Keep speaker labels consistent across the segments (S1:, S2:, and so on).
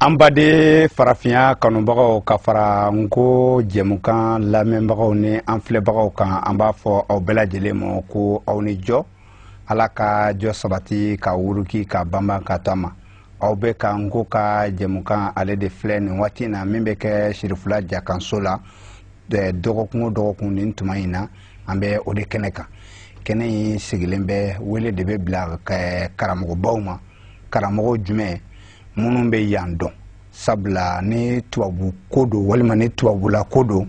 S1: an baden farafinya kanubagaw ka fara nko jɛmukan lamɛnbagaw ni an filɛbagaw kan an b'a fɔ aw bɛɛ lajɛlen ma ko aw ni jɔ ala ka jɔ sabati ka wuruki ka banban ka to a ma aw bɛɛ ka nko ka jɛmukan ale de filɛ nin waati in na min bɛ kɛ sirifula jakanso la dɔgɔkun o dɔgɔkun nin tuma in na an bɛ o de kɛnɛ kan kɛnɛ in sigilen bɛ wele de bɛ bila karamɔgɔbaw ma karamɔgɔ jumɛn minnu bɛ yan dɔn sabula ni tubabu ko don walima ni tubabula ko don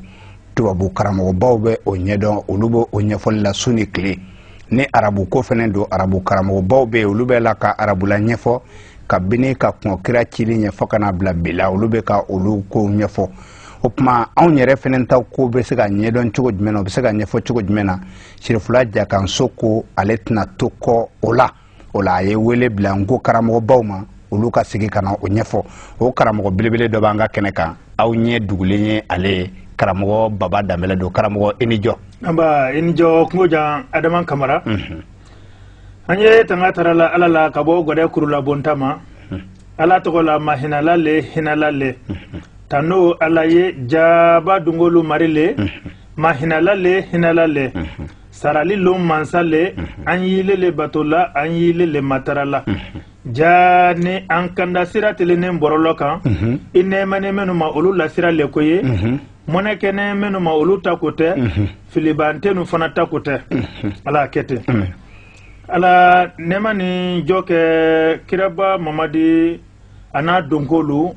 S1: tubabu karamɔgɔbaw bɛ o ɲɛdɔn olu bɛ o ɲɛfɔli la su ni tile ni arabu ko fana don arabu karamɔgɔbaw bɛ yen olu bɛ la ka arabula ɲɛfɔ kabini ka kɔn kira cili ɲɛ fo ka na bila bi la olu bɛ ka olu kow ɲɛfɔ o tuma anw yɛrɛ fana ta ko bɛ se ka ɲɛdɔn cogo jumɛn na o bɛ se ka ɲɛfɔ cogo jumɛn na sirifula jakanso ko ale tɛna to kɔ o la o la a ye wele bila nko karamɔgɔbaw ma olu ka sigi ka na o ɲɛfɔ o karamɔgɔ belebele dɔ b'an ka kɛnɛ kan aw ɲɛ dugulen ye ale ye karamɔgɔ baba danbɛlɛ don karamɔgɔ i ni jɔ anba i ni jɔ
S2: kungo jan adama kamara mhm. an ye tanga tara la ala la ka bɔ gɔdɛ kurulabonta ma mhm. ala tɔgɔ la mahinala le hinala le mhm. tano ala ye jaba dungolu mari le mahinala le hinala le sarali lon mansa le an y'ile le bato la an y'ile le matara la jaani an kanda sira telenen bɔrɔlɔ kan i nɛɛmanen minnu ma olu la sira le ko ye mɔnɛ kɛnen minnu ma olu ta ko tɛ filibantenu fana ta ko tɛ ala kɛ ten ala nɛɛma ni jɔ kɛ kiraba mamadi a n'a donkolu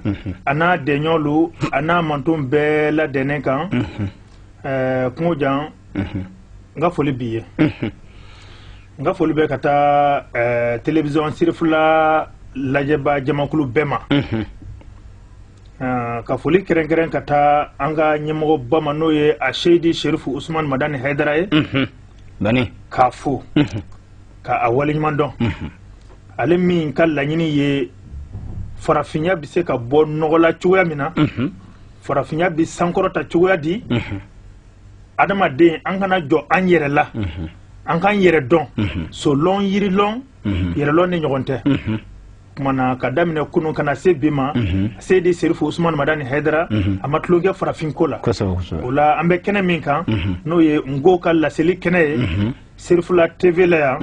S2: a n'a dɛɲɔlu a n'a manton bɛɛ ladɛnnen kan kungo jan n ka foli b'i ye n ka foli bɛ ka taa eh, television sirifula lajɛba jamakulu bɛɛ ma ah, ka foli kɛrɛnkɛrɛn ka taa an ka ɲɛmɔgɔba ma n'o ye a seidi sherifu usman madani haidara
S1: ye k'a
S2: fo ka a waleɲuman dɔn ale min ka laɲini ye farafinya bɛ se ka bɔ nɔgɔ la cogoya min na farafinya bɛ sankɔrɔta cogoya di adamaden an kana jɔ an yɛrɛ la an k'an yɛrɛ dɔn solɔn yirilɔn yɛrɛlɔn ne ɲɔgɔn tɛ kumana k'a daminɛ kunun ka na se bi ma seidi serifu usman madani haidara a ma tulonkɛ farafinko la o la an bɛ kɛnɛ min kan n'o ye nko ka laseli kɛnɛ ye sirifula tv la yan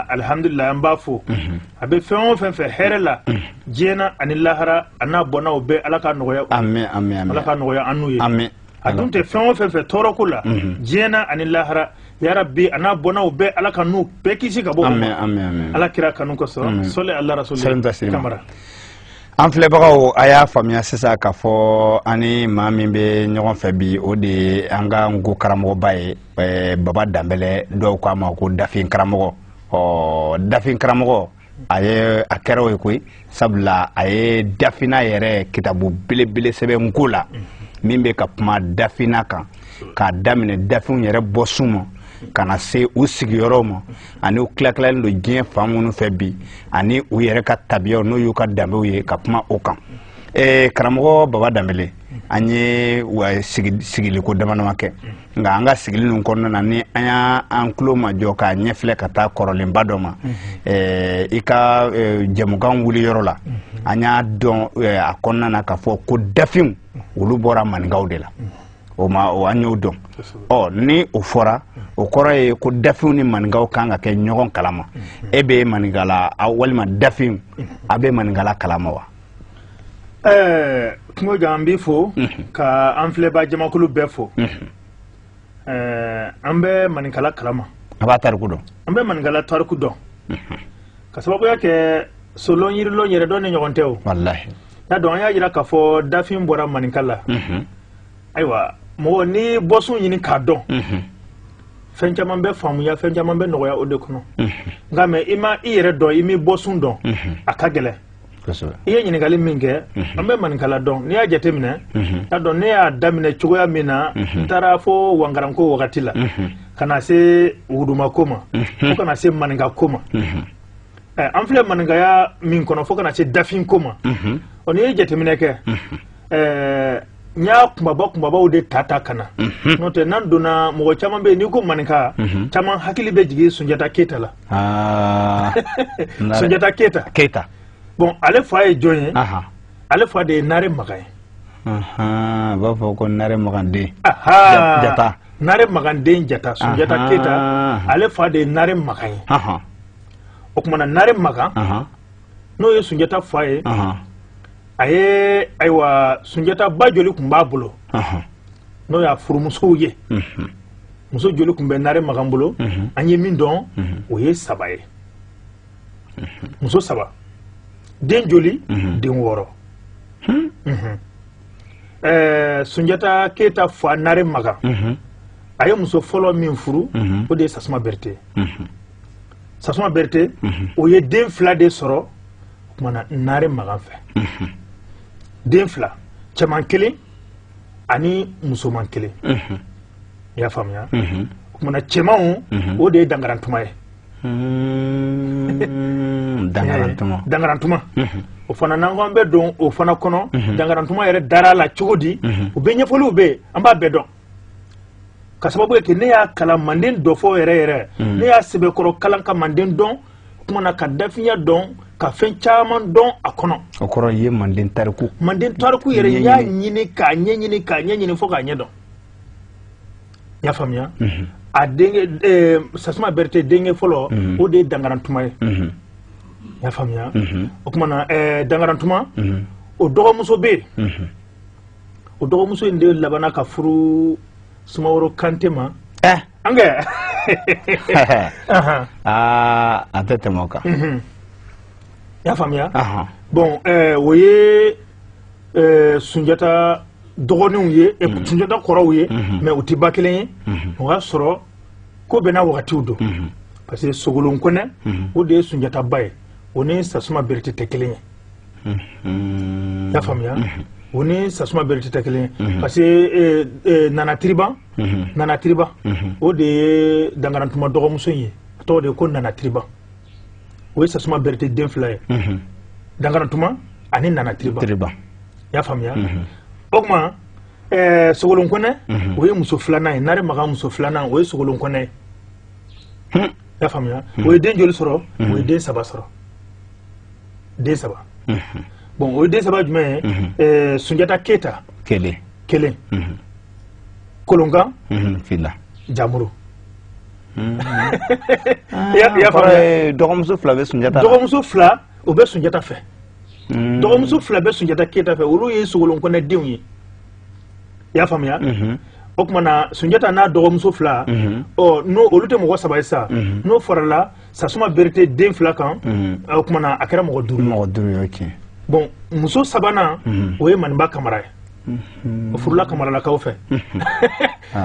S2: alihamdulilayi an b'a fo a bɛ fɛn o fɛn fɛ hɛrɛ la diɲɛ na ani lahara a n'a bɔnnaw bɛɛ ala ka nɔgɔya ala ka nɔgɔya an n'u ye a dun tɛ fɛn o fɛn fɛ tɔɔrɔ ko la diɲɛ na ani lahara yarabi a n'a bɔnnaw bɛɛ ala k'a n'u bɛɛ kisi ka bɔ o ma ala kira kanu kosɔn sɔli ala rasuli kamara an
S1: filɛbagaw a y'a faamuya sisan k'a fɔ an ni maa min bɛ ɲɔgɔn fɛ bi o de ye an ka nko karamɔgɔba ye baba danbele dɔw k'a ma ko dafin karamɔgɔ ɔ dafin karamɔgɔ a ye a kɛra o ye koyi sabula a ye dafina yɛrɛ kitabu belebele sɛbɛn nko la min bɛ ka kuma dafina kan k'a daminɛ dafinw yɛrɛ bɔsun ma ka na se u sigiyɔrɔw ma ani u tilatilalen don diɲɛ fan minnu fɛ bi ani u yɛrɛ ka tabiyaw n'o y'u ka danbew ye ka kuma o kan karamɔgɔ baba danbele an ye sigiliko damadama kɛ nka an ka sigili ninnu kɔnɔna na ni an y'an tulo majɔ k'a ɲɛfilɛ ka taa kɔrɔlenba dɔ ma eh, i ka eh, jɛmukan wuli yɔrɔ la an y'a dɔn eh, a kɔnɔna na k'a fɔ ko dafinw olu bɔra maninkaw de la o an y'o dɔn ɔ ni o fɔra o kɔrɔ ye ko dafinw ni maninkaw kan ka kɛ ɲɔgɔn kalama e bɛ maninkala walima dafinw a bɛ maninkala kalama wa
S2: ɛɛ kungo jan an b'i fo ka an filɛbaa jamakulu bɛɛ fo ɛɛ an bɛ maninkala kalama an b'a tariku dɔn
S1: an bɛ maninkala tariku
S2: dɔn ka sababuya kɛ solɔn yirilɔn yɛrɛ dɔnni ɲɔgɔn tɛ o walahi y'a
S1: dɔn an y'a
S2: jira k'a fɔ dafin bɔra maninka la ayiwa mɔgɔ ni bɔsun ɲini k'a dɔn fɛn caman bɛ faamuya fɛn caman bɛ nɔgɔya o de kɔnɔ nka mɛ i ma i yɛrɛ dɔn i m'i bɔsun dɔn a ka gɛlɛn i ye ɲininkali min kɛ mhm. an bɛ maninkala dɔn n'i y'a jateminɛ mhm. a dɔn ne y'a daminɛ cogoya min na mhm. n taara fo wankaranko wagati la ka na se wudumako ma fo ka na se maninkako ma eh, an filɛ maninkaya min kɔnɔ fo ka na se dafinko ma ɔ n'i ye jateminɛ kɛ eh, n y'a kunbaba kunbabaw de ta ta ka na mhm. n'o tɛ n'an donna mɔgɔ caman bɛ yen n'i ko maninka mhm. caman hakili bɛ jigin sunjata keyita la ah. sunjata keyita bon ale fa ye jɔn ye ale fa de ye nare makan
S1: ye a b'a fɔ ko nare maganden
S2: jata nare maganden jata sunjata keyita ale fa de ye nare makan ye o tuma na nare makan n'o ye sunjata fa ye a ye ayiwa sunjata ba joli tun b'a bolo n'o y'a furumusow ye muso joli tun bɛ nare makan bolo an ye min dɔn o ye saba ye muso saba den joli den wɔɔrɔ sunjata keyita fa nare makan a ye muso fɔlɔ min furu o de ye sasuma berete sasuma berete o ye den fila de sɔrɔ o tuma na naare magan fɛ den fila cɛman kelen ani musoman kelen i y'a faamuya o tuma na cɛmanw o de ye dangarantuma ye hmm, dangarantuma dangarantuma o fana n'an ko an bɛ don o fana kɔnɔ dangarantuma yɛrɛ dara la cogo di o bɛɛ ɲɛfɔliw bɛ yen an b'a bɛɛ dɔn ka sababu kɛ ne y'a kalan manden dɔfɔ yɛrɛ yɛrɛ ne y'a sɛbɛkɔrɔ kalan ka manden dɔn o tuma na ka dafiya dɔn ka fɛn caman dɔn a kɔnɔ o kɔrɔ ye manden
S1: tariku manden tariku
S2: yɛrɛ y'a ɲini k'a ɲɛɲini k'a ɲɛɲini fo k'a ɲɛ dɔn y'a faamuya mhm. a denkɛ eh, sasuma berete denkɛ fɔlɔ mhm. o de ye dangarantuma ye mhm. y'a faamuya o tuma na eh, dangarantuma o dɔgɔmuso bɛ yen o dɔgɔmuso in de labanna ka furu sumaworo kante ma eh. an
S1: kɛ aa an tɛ tɛmɛ o kan mhm.
S2: y'a faamuya bon eh, o ye eh, sunjata dɔgɔninw ye mhm. sunjata kɔrɔw ye mhm. mais u tɛ ba kelen ye o y'a sɔrɔ ko bɛɛ n'a wagatiw don parce que sogolon kɔnɛ o de ye sunjata ba ye o ni sasuma berete tɛ kelen ye i y'a faamuya o ni sasuma berete tɛ kelen ye parce que nana tiriban nana tiriban o de ye dangarantuma dɔgɔmuso in ye a tɔgɔ de ye ko nana tiriban o ye sasuma berete den fila ye dangarantuma ani nana tiriban i y'a faamuya o tuma sogolon kɔnɛ o ye muso filanan ye nare makan muso filanan o ye sogolon kɔnɛ ye y'a faamuya o ye den joli sɔrɔ o ye den saba sɔrɔ den saba bon o ye den saba jumɛn ye eh, sunjata keyita kelen kelen kolonkan fila
S1: jamuru hmm. i y'a faamuya dɔgɔmuso fila bɛ sunjata dɔgɔmuso fila
S2: o bɛ sunjata fɛ hmm. dɔgɔmuso fila bɛ sunjata keyita fɛ olu ye sogolon kɔnɛ denw ye i y'a faamuya mhm. o tuma na sunjata n'a dɔgɔmuso fila mhm. ɔ n'o olu tɛ mɔgɔ saba ye sa mhm. n'o farala sasuma berete den fila kan o tuma na a kɛra mɔgɔ duuru mɔgɔ duuru tiɲɛ
S1: bon
S2: muso sabanan o ye maninba kamara ye o furula kamaralakaw fɛ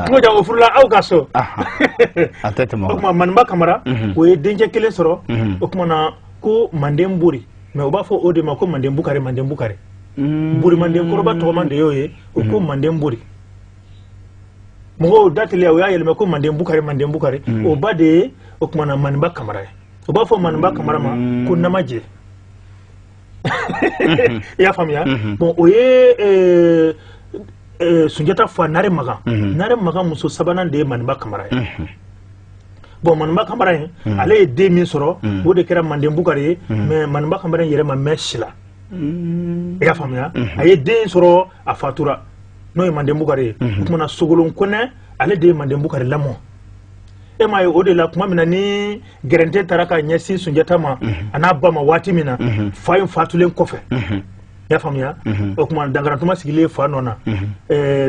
S2: cogo ja o furula aw ka so
S1: o tuma maninba
S2: kamara o ye dencɛ kelen sɔrɔ o tuma na ko manden bori mais u b'a fɔ o de ma ko manden bukari manden bukari bori manden kɔrɔba tɔgɔman de y'o ye o ko manden bori mɔgɔw da teliya u y'a yɛlɛma ko manden bukari manden bukari mm. o ba de ye o tuma na maninba kamara ye u b'a fɔ maninba kamara ma mm. ko namajɛ mm-hmm. i y'a faamuya mm-hmm. bon o ye eh, eh, sunjata fa nare magan mm-hmm. nare magan muso sabanan de ye maninba kamara ye bon maninba kamara in hmm. ale ye den min sɔrɔ hmm. o de kɛra manden bukari ye hmm. mais maninba kamara in yɛrɛ ma mɛn si la i y'a faamuya a ye den sɔrɔ a fatura n'o ye manden bukari ye o tuma na sogolon kɔnɛ ale de ye manden bukari lamɔ e m'a ye o de la tuma min na ni gɛrɛntɛ tara ka ɲɛsin sunjata ma a n'a ba ma waati min na fa in fatulen kɔfɛ y'a faamuya o tuma dankarantuma sigilen fa nɔ na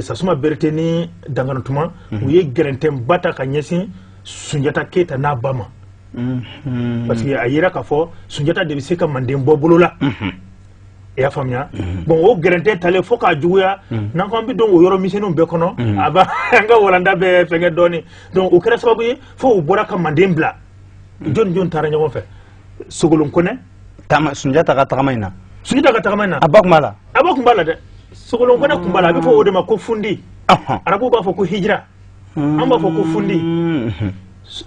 S2: sasuma berete ni dankarantuma u ye gɛrɛntɛba ta ka ɲɛsin sunjata keyita n'a ba ma parce que a yera k'a fɔ sunjata de bɛ se ka manden bɔ bolo la i y'a faamuya mhm. bon o gɛrɛntɛ talen fo k'a juguya mhm. n'an ko an bɛ don o yɔrɔ misɛnninw bɛɛ kɔnɔ mhm. a b'an ka walanda bɛɛ fɛngɛ dɔɔnin donc o kɛra sababu ye fo u bɔra ka manden bila jɔni jɔni taara ɲɔgɔn fɛ sogolon kɔnɛ taama sunjata
S1: ka tagama in na sunjata ka tagama in na a
S2: ba tun b'a la a ba tun b'a la dɛ sogolon kɔnɛ tun b'a la a bɛ fɔ o de ma ko fundi arabuw b'a fɔ ko hijira an b'a fɔ ko fundi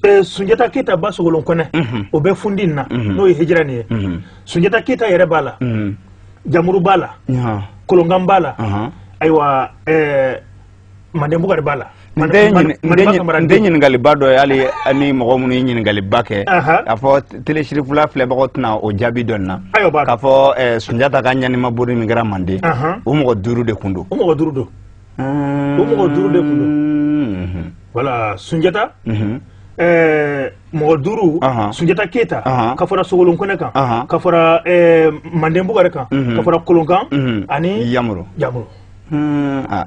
S2: Eh, sunjata keyita ba sogolon kɔnɛ mhm. o bɛ fundi na mhm. n'o ye hijira nin ye mhm. sunjata keyita yɛrɛ b'a la jamuru b'a la kolonkan b'a la ayiwa eh, manden bugari b'a la
S1: n tɛ ɲininkaliba dɔ ye hali ni mɔgɔ minnu ye ɲininkaliba kɛ k'a fɔ tele cherifla filɛbagaw tɛna o jaabi dɔn na k'a fɔ eh, sunjata ka ɲanima bori min kɛra manden o mɔgɔ duuru de tun don
S2: o mɔgɔ duuru de tun don voilà sunjata mɔgɔ duuru sunjata keyita ka fara sogolon kɔnɛ kan ka fara manden bugari kan ka fara kolonkan ani yamuru yamuru Hmm, ah.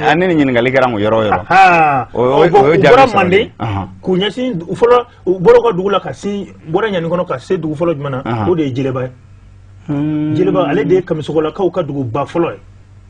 S2: ah, ne ni ɲininkali kɛra ko yɔrɔ yɔrɔ u bɔra manden k'u ɲɛsin fɔlɔ u bɔra ka dugu la ka sin bɔra ɲani kɔnɔ ka se dugu fɔlɔ jumɛn na o de ye jeleba ye hmm. jeleba ale de ye kamisogolakaw ka duguba fɔlɔ ye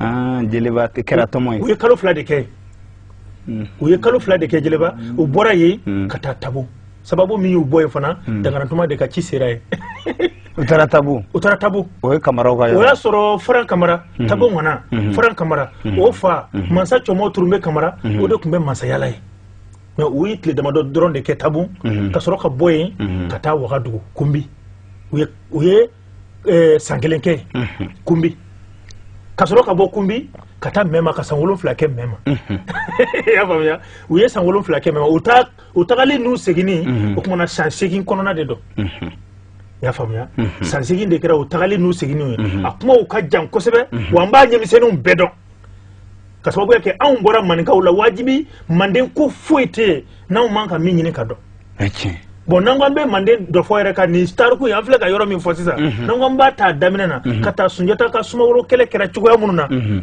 S2: ah, jeleba kɛra tomo ye u ye kalo fila de kɛ hmm. u ye kalo fila de kɛ jeleba hmm. u bɔra yen hmm. ka taa tabu sababu min y'u bɔ yen fana dangarantuma de ka ci sera yen u taara tabu u taara tabu o ye kamaraw ka yɔrɔ o y'a sɔrɔ faran kamara tabu ŋana faran kamara o fa mansa cɔmɔ turunbe kamara o de tun bɛ mansaya la yen mais u ye tile damadɔ dɔrɔn de kɛ tabu ka sɔrɔ ka bɔ yen ka taa wagadugu kunbi u ye eh, san kelen kɛ mhm. kunbi ka sɔrɔ ka bɔ kunbi ka taa mɛma ka san wolonwula kɛ mɛma mhm. i y'a faamuya u ye san wolonwula kɛ mɛma u tagalen n'u seginni mhm. o tuma na san seegin kɔnɔna de don i y'a faamuya san seegin de kɛra u tagalen n'u seginni ye a kumaw ka jan kosɛbɛ wa an b'a ɲɛmisɛnninw bɛɛ dɔn ka sababu kɛ anw bɔra maninkaw la wajibi manden ko foyi tɛ yen n'anw man kan min ɲini ka dɔn bɔn n'an ko an bɛ manden dɔfɔ yɛrɛ ka nin tariku ye an filɛ ka yɔrɔ min fɔ sisan mhm. n'an ko an b'a ta daminɛ na mhm. ka taa sunjata ka sumaworo kɛlɛ kɛra cogoya minnu na mhm.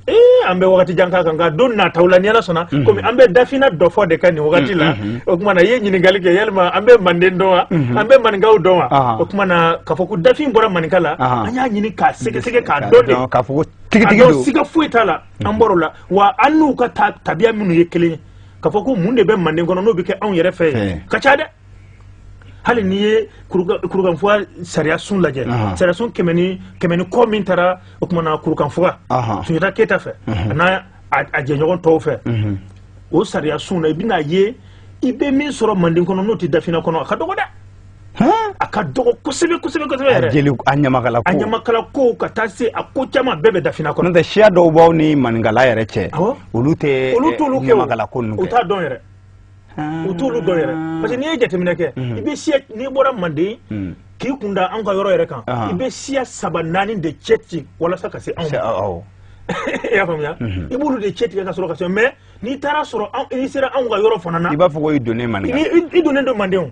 S2: ee an bɛ wagati jan k'a kan nka don nataw la ni ala sɔnna komi an bɛ dafina dɔfɔ de kan nin wagati la o kuma na i ye ɲininkali kɛ yalima an bɛ manden dɔn wa an bɛ maninkaw dɔn wa o kuma na k'a fɔ ko dafin bɔra maninka la an y'a ɲini k'a sɛgɛsɛgɛ k'a dɔn de siga foyi t'a la an bɔr'o la wa an n'u ka tabiya minnu ye kelen ye k'a fɔ ko mun de bɛ manden kɔnɔ n'o bɛ kɛ anw yɛrɛ fɛ yen ka ca dɛ hali n'i ye kurukanfuga sariyasun lajɛ sariyasun kɛmɛ ni kɔ min taara o kumana kurukanfuga sunjata keyita fɛ a n'a a jɛɲɔgɔn tɔw fɛ o sariyasun na i bɛna ye i bɛ min sɔrɔ manden kɔnɔ n'o tɛ dafina kɔnɔ a ka dɔgɔ dɛ a ka dɔgɔ kosɛbɛ kosɛbɛ kosɛbɛ yɛrɛ jeli a ɲamakala ko a ɲamakala ko ka taa se a ko caman bɛɛ bɛ dafina kɔnɔ n'o tɛ siya dɔw b'anw ni maninkala yɛrɛ cɛ olu tɛ olu t'olu kɛ ɲamakala ko ninnu kɛ u t'a dɔn yɛrɛ u t'olu dɔn yɛrɛ parce que n'i ye jateminɛ kɛ i bɛ siya n'i bɔra manden k'i kun da an ka yɔrɔ yɛrɛ kan i bɛ siya saba naani de cɛ ci walasa ka se anw ma i y'a faamuya i b'olu de cɛ tigɛ ka sɔrɔ ka se mais n'i taara sɔrɔ n'i sera anw ka yɔrɔ fana na i b'a fɔ ko i donnen manden i donnen don manden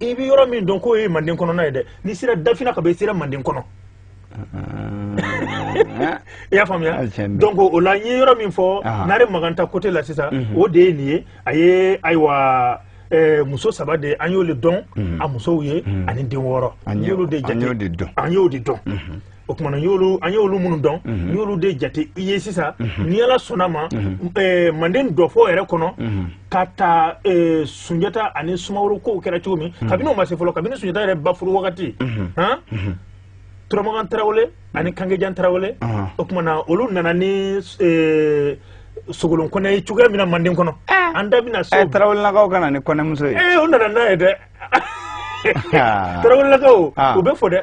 S2: i bɛ yɔrɔ min dɔn k'o ye manden kɔnɔna ye dɛ n'i sera dafina ka bɔ i sera manden kɔnɔ i y'a faamuya donc o la n ye yɔrɔ min fɔ nare magan ta côté la sisan mhm. o de ye nin ye a ye ayiwa eh, muso saba de an y'olu dɔn mhm. a musow ye mhm. ani den wɔɔrɔ an y'olu de dɔn o kumana an y'olu minnu dɔn n y'olu de jate i ye sisan ni ala sɔnna ma manden dɔfɔ yɛrɛ kɔnɔ ka ta sunjata ani sumaworo kow kɛra cogo min kabini o ma se fɔlɔ kabini sunjata yɛrɛ ba furu wagati turamagan tarawele ani kangejan tarawele o kumana olu nana ni sogolon kɔnɛ ye cogoya min na manden kɔnɔ an da bɛna s'o tarawelelakaw ka na ni kɔnɛmuso ye u nana n'a ye dɛ tarawelelakaw u bɛ fɔ dɛ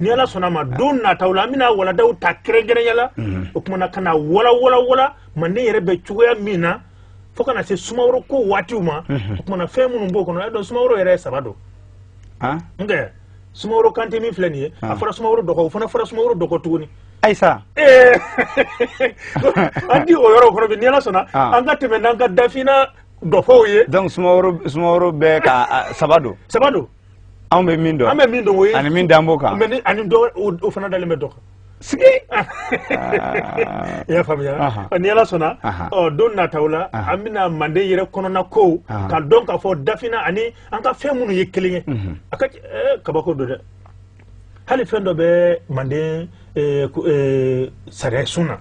S2: ni ala sɔnna ma don nataw la an bɛna walandaw ta kɛrɛnkɛrɛnya la mhm. o kumana ka na walawala manden yɛrɛ bɛ cogoya min na fo ka na se sumaworo ko waatiw ma mhm. o kumana fɛn minnu b'o kɔnɔ y'a dɔn sumaworo yɛrɛ ye saba don ah? nka sumaworo kante min filɛ nin ye a ah. fɔra sumaworo dɔgɔ o fana fɔra sumaworo dɔgɔ tuguni
S1: ayisa
S2: eh. an tɛ o yɔrɔ kɔnɔ bi ni ala sɔnna ah. an ka tɛmɛ n'an ka dafina dɔfɔw ye donc sumaworo
S1: sumaworo bɛɛ ka saba don saba don anw bɛ min dɔn an bɛ min dɔn o ye ani min dan b'o
S2: kan mais ni
S1: ani dɔ o
S2: fana dalen bɛ dɔ kan sigi i y'a faamuya ni ala sɔnna ɔ don nataw la an bɛna manden yɛrɛ kɔnɔna kow ka dɔn k'a fɔ dafina ani an ka fɛn minnu ye kelen ye a ka kabako don dɛ hali fɛn dɔ bɛ manden sariyasun na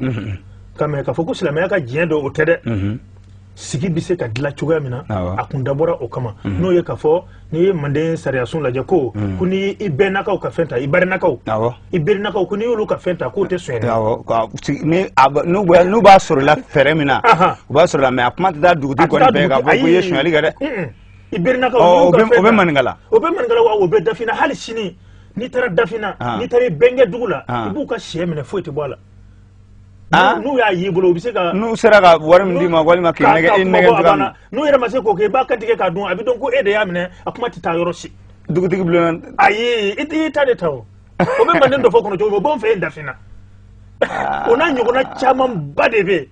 S2: ka mɛ k'a fɔ ko silamɛya ka diɲɛ dɔ o tɛ dɛ sigi bɛ se ka dilan cogoya min na a kun dabɔra o kama mhm. n'o ye k'a fɔ n'i ye manden sariyasun lajɛ ko mhm. ko n'i y'i bɛnnakaw ka fɛn ta i barinakaw i berinakaw ko n'i y'olu ka fɛn ta k'o tɛ sɔn
S1: n'u b'a sɔr'i la fɛɛrɛ min na u b'a sɔr'i la mais a kuma tɛ taa dugutigi kɔni bɛɛ k'a fɔ k'i ye sonyali kɛ dɛ i
S2: berinakaw o bɛ
S1: maninkala o bɛ maninkala wa o
S2: bɛ dafina hali sini n'i taara dafina n'i taara i bɛnkɛ dugu la i b'u ka sɛ minɛ foyi tɛ bɔ a la n'u y'a y'i bolo u bɛ se ka n'u sera ka wari min d'i
S1: ma walima k'i nɛgɛ i nɛgɛ cogoya min n'u yɛrɛ ma se k'o
S2: kɛ i b'a kantigɛ k'a dun a bɛ dɔn ko e de y'a minɛ a kuma tɛ taa yɔrɔ si dugutigi
S1: bulon ayi
S2: i y'i ta de ta o o bɛ manden dɔfɔ kɔnɔ cogo min o b'anw fɛ yen dafina o n'a ɲɔgɔnna camanba de bɛ yen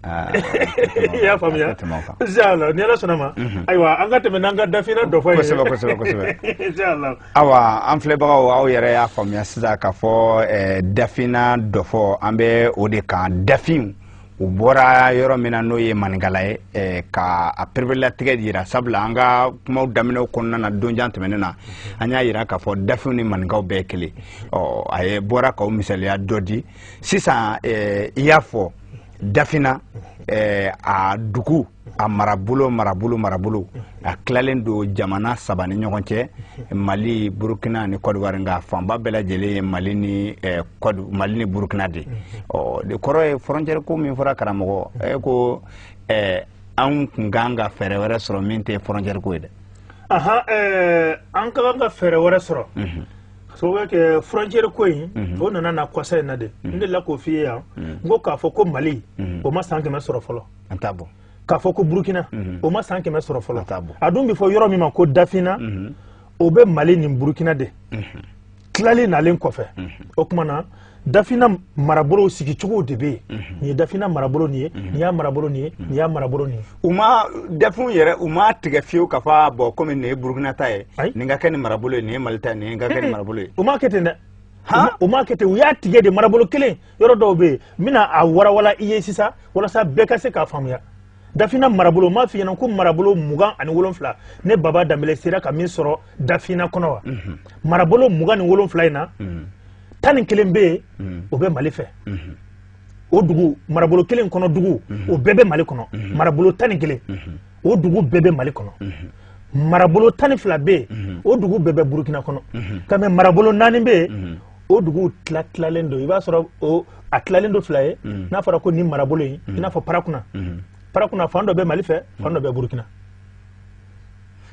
S2: i y'a faamuya inshallah ni ala sɔnna ma mhm. ayiwa an ka tɛmɛ n'an ka dafina dɔfɔ ye kosɛbɛ kosɛbɛ
S1: kosɛbɛ inshallah
S2: awa an
S1: filɛbagaw aw yɛrɛ y'a faamuya sisan k'a fɔ eh, dafina dɔfɔ an bɛ o de kan dafinw u bɔra yɔrɔ min na n'o ye maninkala ye eh, ka a pereperelatigɛ yira sabula an ka kumaw daminɛw kɔnɔna na donjan tɛmɛnen na an y'a yira k'a fɔ dafinw ni maninkaw bɛɛ kelen ɔ a ye bɔra ka o misaliya dɔ di sisan eh, i y'a fɔ dafina eh, a dugu a marabolo marabolo marabolo a tilalen don jamana saba ni ɲɔgɔn cɛ mali burukina ni kɔdiwari nka fanba bɛɛ lajɛlen ye mali ni eh, mali ni burukina de o de kɔrɔ ye frontière ko min fɔra karamɔgɔ e ko eh, anw kun kan ka fɛɛrɛ wɛrɛ sɔrɔ min tɛ frontière ko ye dɛ
S2: an ka kan ka fɛɛrɛ wɛrɛ sɔrɔ mhm. sababu kɛ frontière ko in mhm. o nana na kɔsa in na de mhm. n delila k'o f'i ye yan mhm. n ko k'a fɔ ko mali o ma san kɛmɛ sɔrɔ fɔlɔ k'a fɔ ko burukina o ma san kɛmɛ sɔrɔ fɔlɔ a dun bɛ fɔ yɔrɔ min ma ko dafina o bɛ mali ni burukina de tilali nalen kɔfɛ o tuma na dafina marabolow sigicogow de bɛ yen mhm. nin ye dafina marabolo nin ye mhm. nin y'a marabolo nin ye mhm. nin y'a marabolo nin ye u ma
S1: dafinw yɛrɛ u ma tigɛ fiyewu k'a fɔ bon komi nin ye burukina ta ye nin ka kɛ nin marabolo ye nin ye mali ta ye nin ka kɛ nin marabolo ye u ma kɛ ten dɛ
S2: u ma kɛ ten u y'a tigɛ de marabolo kelen yɔrɔ dɔw bɛ yen n bɛna a warawala i ye sisan walasa bɛɛ ka se k'a faamuya dafina marabolo m'a f'i ɲɛna ko marabolo mugan ani wolonfila ne baba danbele sera ka min sɔrɔ dafina kɔnɔ wa marabolo mugan ni wolonfila in na tan ni kelen bɛ yen mm. o bɛ mali fɛ mm-hmm. o dugu marabolo kelen kɔnɔ dugu mm-hmm. o bɛɛ bɛ mali kɔnɔ mm-hmm. marabolo tan ni kelen o dugu bɛɛ bɛ mali kɔnɔ marabolo tan ni fila bɛ yen o dugu bɛɛ bɛ burukina kɔnɔ ka mɛ marabolo naani bɛ yen o duguw tila tilalen don i b'a sɔrɔ o a tilalen don fila ye n'a fɔra ko nin marabolo in i n'a fɔ parakuna parakuna fan dɔ bɛ mali fɛ fan dɔ bɛ burukina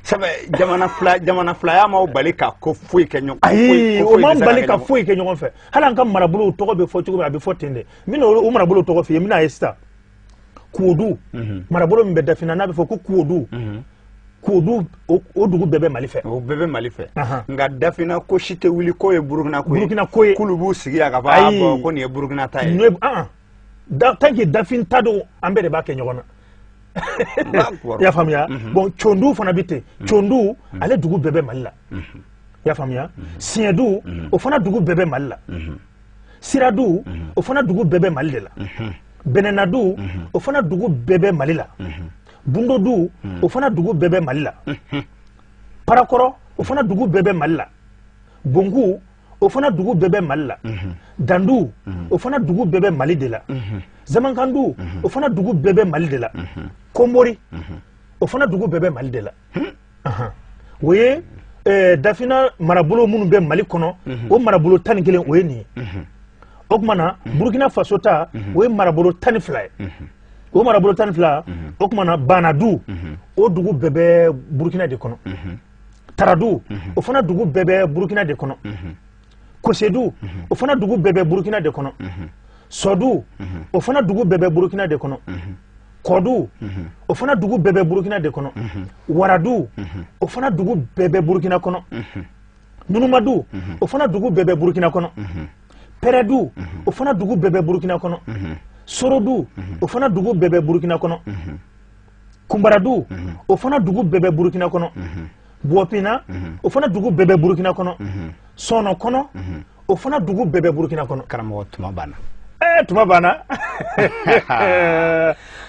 S1: sabu jamana fila jamana filaya m'an bali ka ko foyi kɛ ɲɔgɔn ayi o m'an
S2: bali ka foyi kɛ ɲɔgɔn fɛ hali an ka marabolow tɔgɔ bɛ fɔ cogo min a bɛ fɔ ten de n bɛna o marabolo tɔgɔ f'i ye n bɛna a ye sisan kuodu mhm. marabolo min bɛ dafina n'a bɛ fɔ ko kuodu mhm. kuodu o dugu bɛɛ bɛ mali fɛ o bɛɛ bɛ mali
S1: fɛ nka dafina ko si tɛ wuli k'o ye burukina ko ye burukina ko ye k'olu b'u sigi yan ka fɔ a ah, bɔn ko nin ye burukina ta ye
S2: tant que dafin ta don an bɛɛ de b'a kɛ ɲɔgɔn na i y'a faamuya mhm. bɔn condu fana bɛ ten mhm. condu mhm. ale dugu bɛɛ bɛ mali la i y'a faamuya siɲɛdu o fana dugu bɛɛ bɛ mali la siradu o fana dugu bɛɛ bɛ mali de la bɛnɛnadu o fana dugu bɛɛ bɛ mali la bundodu o fana dugu bɛɛ bɛ mali la parakɔrɔ o fana dugu bɛɛ bɛ mali la bonku o fana dugu bɛɛ bɛ mali la dandu o fana dugu bɛɛ bɛ mali de la zamankandu o fana dugu bɛɛ bɛ mali de la komori o fana dugu bɛɛ bɛ mali de la o ye eh, dafina marabolo minnu bɛ mali kɔnɔ o marabolo tan ni kelen o ye nin ye o tuma na burukina faso ta o ye marabolo tan ni fila ye o marabolo tan ni fila o tuma na banadu o dugu bɛɛ bɛ burukina de kɔnɔ taradu o fana dugu bɛɛ bɛ burukina de kɔnɔ kosedu o fana dugu bɛɛ bɛ burukina de kɔnɔ sɔdu o fana dugu bɛɛ bɛ burukina de kɔnɔ kɔdu o fana dugu bɛɛ bɛ burukina de kɔnɔ waradu o fana dugu bɛɛ bɛ burukina kɔnɔ nunumadu o fana dugu bɛɛ bɛ burukina kɔnɔ pɛrɛdu o fana dugu bɛɛ bɛ burukina kɔnɔ sorodu o fana dugu bɛɛ bɛ burukina kɔnɔ kunbaradu o fana dugu bɛɛ bɛ burukina kɔnɔ buwɔpina o fana dugu bɛɛ bɛ burukina kɔnɔ sɔnɔ kɔnɔ o fana dugu bɛɛ bɛ burukina kɔnɔ karamɔgɔ tuma banna
S1: ɛɛ tuma
S2: banna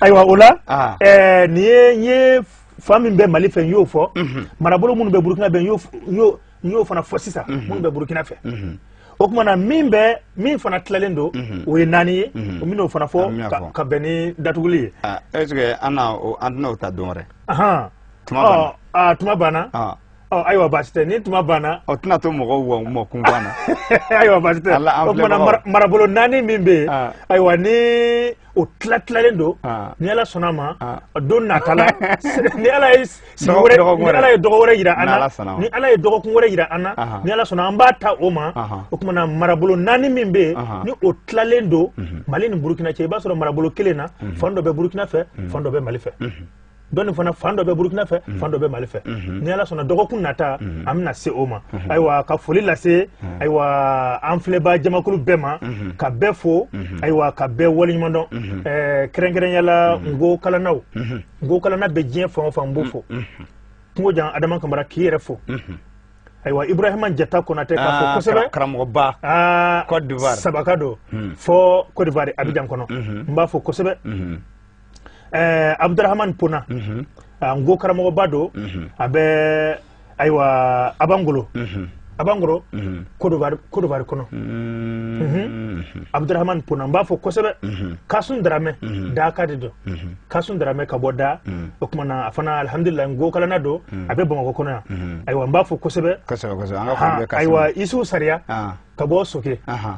S2: ayiwa o la ah. ɛɛ nin ye n ye fan min bɛ mali fɛ n y'o fɔ marabolo minnu bɛ burukina fɛ n y'o n y'o fana fɔ sisan minnu bɛ burukina fɛ o tuma na min bɛ min fana tilalen don o ye naani ye n bɛna o fana fɔ ka bɛn ni datuguli ye est ce que an
S1: an tɛna o ta don wɛrɛ
S2: tuma banna ayiwa baasi tɛ ni tuma banna o tɛna to mɔgɔw
S1: wa mɔ kun banna ayiwa baasi tɛ
S2: o tuma na marabolo naani min bɛ yen ayiwa ni o tila tilalen don ah. ni ala sɔnna a ma ah. don nata la ni ala ye sigi wɛrɛ ni ala ye dɔgɔ wɛrɛ yira an na ni ala ye dɔgɔkun wɛrɛ yira an na ni ala sɔnna an b'a ta o ma o tuma na marabolo naani min bɛ yen ni o tilalen don mhm. mali ni burukina cɛ i b'a sɔrɔ marabolo kelen na mhm. fan dɔ bɛ burukina fɛ mhm. fan dɔ bɛ mali fɛ dɔnni fana fan dɔ bɛ burukina fɛ mm. fan dɔ bɛ mali fɛ mm-hmm. ni ala sɔnna dɔgɔkun nata mm-hmm. an bɛna se o ma mm-hmm. ayiwa ka foli lase ayiwa an filɛbaa jamakulu bɛɛ ma ka bɛɛ fo ayiwa ka bɛɛ waleɲuman dɔn eh, kɛrɛnkɛrɛnya la nko kalannaw nko kalanna bɛ diɲɛ fan o fan n b'o fo kungo jan adama kamara k'i yɛrɛ fo ayiwa ibrahima jata konate k'a fo ah, kosɛbɛ karamɔgɔba
S1: kodiwari sabaka don hmm.
S2: fo kodiwari abijan kɔnɔ hmm. n b'a fo kosɛbɛ hmm. eh, abdurahman pona mm -hmm. Ah, nko karamɔgɔba don mm -hmm. a bɛ ayiwa abangolo mm -hmm. abangoro mm -hmm. kodiwari kodiwari kɔnɔ mm -hmm. mm -hmm. abdurahman pona n b'a fo kosɛbɛ mm -hmm. kasun daramɛ mm -hmm. daka de don mm -hmm. kasun daramɛ ka bɔ da mm -hmm. o tuma na a fana alhamdulilayi nko kalanna don mm -hmm. a bɛ bamakɔ kɔnɔ yan mm -hmm. ayiwa n b'a fo kosɛbɛ ayiwa isufu sariya ah. ka bɔ soke uh -huh.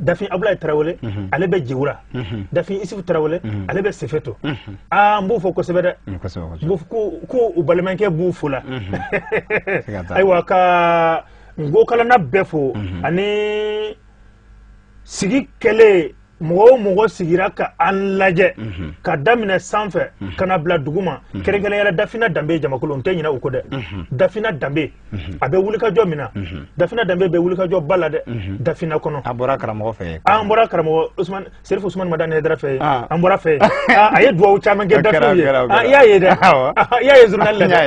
S2: dafin abulayi tarawele mhm. ale bɛ jewura mhm. dafin isufu tarawele mhm. ale bɛ sefeto aa n b'u fo kosɛbɛ dɛ mm, ko u balimakɛ b'u fo la ayiwa ka nko kalanna bɛɛ fo ani sigi kɛlen mɔgɔ o mɔgɔ sigira ka an lajɛ ka daminɛ sanfɛ ka na bila duguma kɛrɛnkɛrɛnyala dafina danbe jamakulu n tɛ ɲinɛ u kɔ dɛ dafina danbe a bɛ wulikajɔ min na dafina danbe bɛ wulikajɔba la dɛ dafina kɔnɔ an bɔra karamɔgɔ
S1: fɛ an bɔra
S2: karamɔgɔ serifu usman madani haidara fɛ an bɔr'a fɛ a ye dugawu caman kɛ dafinw ye i y'a ye dɛ i y'a ye zurunali la dɛ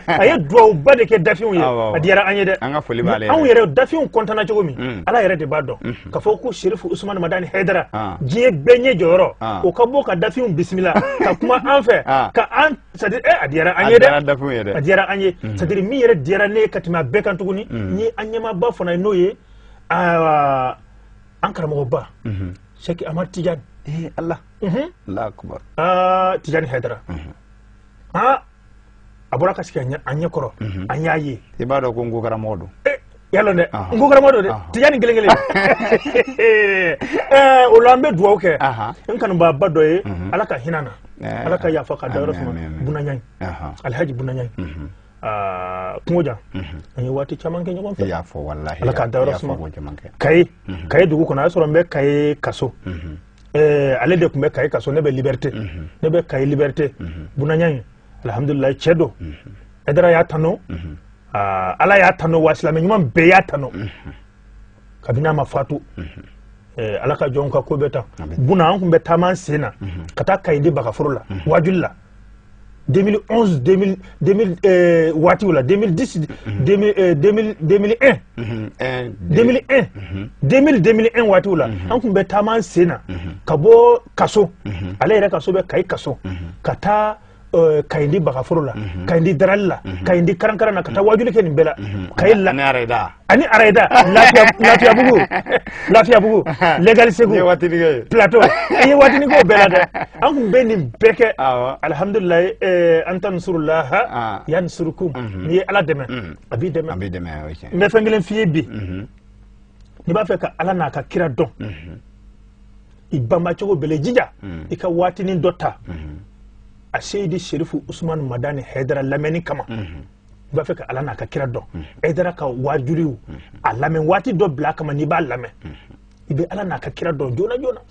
S2: a ye dugawuba de kɛ dafinw ye a diyara an ye dɛ an ka foli b'ale anw yɛrɛ dafinw kɔntanna cogo min ala yɛrɛ de b'a dɔn k'a fɔ ko serifu usman madani haidara diɲɛ bɛɛ ɲɛ jɔyɔrɔ o ka bɔ ka dafinw bisimila ka kuma an fɛ ka an c'est-à-dire eh a diyara an ye dɛ a diyara an ye mm. c'est-à-dire min yɛrɛ diyara ne ka tɛmɛ a bɛɛ kan tuguni mm. ni an ɲɛmaaba fana ye n'o ye an karamɔgɔba mm-hmm. sɛki amar tijani eh, ala
S1: mm-hmm. ala akubar ah,
S2: tijani haidara mm-hmm. ah, a bɔra ka sigi an ɲɛ kɔrɔ an y'a ye i b'a dɔn ko nko karamɔgɔ
S1: don eh, y'a lɔn dɛ
S2: nko karamɔgɔ don dɛ tijani kelen kelen o la an bɛ dugawu kɛ n kanubaaba dɔ ye mhm. ala ka hin'a na eh, ala ka yafa k'a dayɔrɔ suma buna ɲayi alhaji buna ɲayi mhm. ah, kungo jan mhm. an ye waati caman kɛ ɲɔgɔn fɛ ala k'a dayɔrɔ suma kayi kayi dugu kɔnɔ a y'a sɔrɔ n bɛ kayi kaso eh, ale de tun bɛ kayi kaso ne bɛ liberite ne bɛ kayi liberite buna ɲayi alhamdulilayi cɛ don haidara y'a tanu ala y'a tanu wa silamɛ ɲuman bɛɛ y'a tanu kabini a ma fatu Eh, ala ka jɔnw ka ko bɛ tan buna an tun bɛ taama an sen na mhm. ka taa kayindi bagaforo la mhm. wajuli la 2011 2000 2000 eh, waatiw la 2010 2001 2001 waatiw la an kun bɛ taama an sen na ka bɔ kaso ale yɛrɛ kaso bɛ kayi kaso ka taa Eh, kayindi bagaforo la mhm. kayindi darali la mhm. kayindi karankaran na ka taa mhm. wajuli kɛ nin bɛɛ la kayi la ani arayida lafiyabugu legali segu plateau an ye waatinin k'o bɛɛ la dɛ an kun bɛ nin bɛɛ kɛ alhamdulilayi eh, an tansurulaha ah. yansurukum n'i ye ala dɛmɛ a b'i dɛmɛ a b'i dɛmɛ o ye tiɲɛ ye n bɛ fɛn kelen f'i ye bi n'i b'a fɛ ka ala n'a ka kira dɔn i banba cogo bɛɛ la jija i ka waatinin dɔ ta aseyidi serifu usumani madani hɛdara lamɛnni kama n'i b'a fɛ ka ala n'a ka kira dɔn hɛdara ka waajuriw a lamɛn waati dɔ bila kama n'i b'a lamɛn i bɛ ala n'a ka kira dɔn joona joona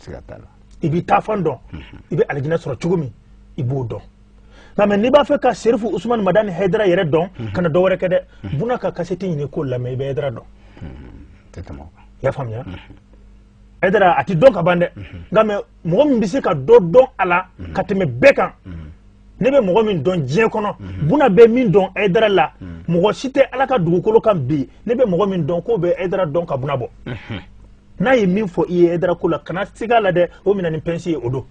S2: i b'i taafan dɔn i bɛ alijinɛ sɔrɔ cogo min i b'o dɔn nka mɛ n'i b'a fɛ ka serifu usumani madani hɛdara yɛrɛ dɔn mhm. kana dɔ wɛrɛ kɛ dɛ mhm. buna ka kaseti ɲini k'o lamɛn i bɛ hɛdara dɔn mhm. i y'a faamuya hɛdara a ti dɔn ka ban dɛ nka mɛ mɔgɔ min bɛ se ka dɔ dɔn a la ka tɛmɛ bɛɛ kan ne bɛ mɔgɔ min dɔn diɲɛ kɔnɔ buna bɛ min dɔn hɛdara la mɔgɔ si tɛ ala ka dugukolo kan bi ne bɛ mɔgɔ min dɔn k'o bɛ hɛdara dɔn ka buna bɔ n'a ye min fɔ i ye hɛdara ko la kana siga a la dɛ o minɛ ni pɛnsi ye o don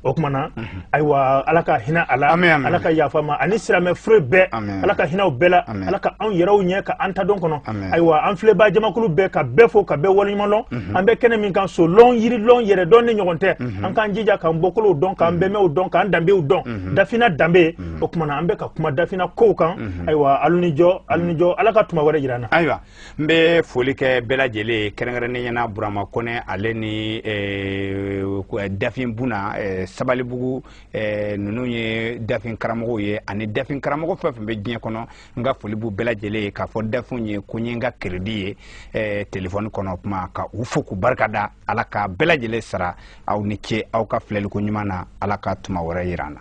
S2: o kuma na ayiwa ala ka hinɛ a la ala ka yafa a ma ani silamɛ fure bɛɛ ala ka hinɛ u bɛɛ la ala ka anw yɛrɛw ɲɛ ka an ta don kɔnɔ ayiwa an filɛbaa jamakulu bɛɛ ka bɛɛ fo ka bɛɛ waleɲuman lɔn mhm. an bɛ kɛnɛ min kan so lɔn yiri lɔn yɛrɛ dɔnni ɲɔgɔn tɛ mhm. an k'an jija k'an bɔkolow dɔn k'an mhm. bɛnbaw dɔn k'an danbew dɔn dafina danbe o kuma na an bɛ ka kuma dafina kow kan ayiwa alu ni jɔ alu ni jɔ ala ka tuma wɛrɛ jira an na ayiwa n
S1: bɛ foli kɛ bɛɛ lajɛlen ye kɛrɛnkɛrɛnnenya na burama kɔnɛ ale ni eh, eh, dafin buna eh, sabalibugu ninnu ye dafin karamɔgɔw ye ani dafin karamɔgɔ fɛn fɛn bɛ diɲɛ kɔnɔ n ka foli b'u bɛɛ lajɛlen ye k'a fɔ dafinw ye ko n ye n ka keredi ye telefɔni kɔnɔ kuma ka u fo k'u barika da ala ka bɛɛ lajɛlen sara aw ni ce aw ka filɛliko ɲuman na ala ka tuma wɛrɛ yira an na